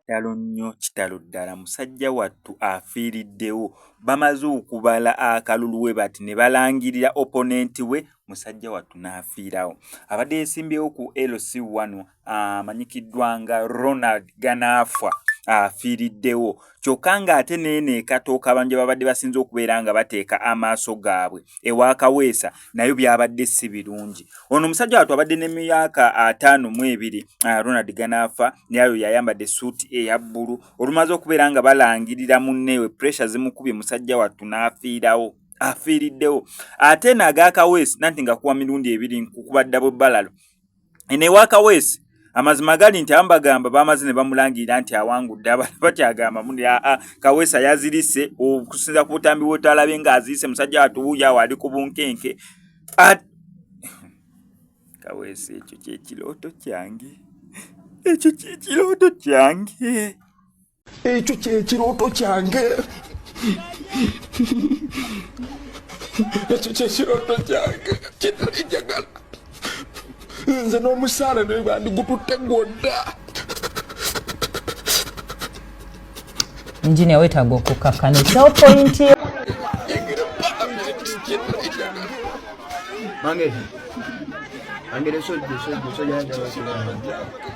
kitalo nnyo kitalo ddala musajja wattu afiiriddewo bamaze okubala akalulu we bati ne balangirira oponenti we musajja wattu n'afiirawo abadde yesimbyewo ku lc wano amanyikiddwa ah, nga ronald ganaafwa afiiriddewo kyokka ng'ate neeno ekatooka abantu gye babadde basinza okubeera nga bateeka amaaso gaabwe ewa kaweesa nayo byabadde si birungi ono omusajja watu abadde ne myaka ataano mu ebiri ah, ronald ganaafa nayo yayambadde esuuti eya bbulu olumaze okubeera nga balangirira munneewe puresha zimukubye musajja wattu n'afiirawo afiiriddewo ate naagaakaweesi nanti nga kuwa mirundi ebiri nkukubaddabo bbalalo eno ewa kaweesi amazima gali nti ambagamba bamaze ne bamulangirira nti awangudde abantu bakyagamba muni aa ah, ah, kaweesa yazirise okusinza ku butambi bwotalabe nga azirise musajja watuwuyo awo ali ku bunkenke ah, kaweesa ekyo kyekirooto kyange ekyo kyekirooto kyange ekyo kyekirooto kyange ekyo kyekirooto kyange kitali njagala nze n'omusaala naye bandigututte gwodda enginia wetaaga okukakkana ekyawo pointi yo Mange. Mange de soy, de soy, de soy ya.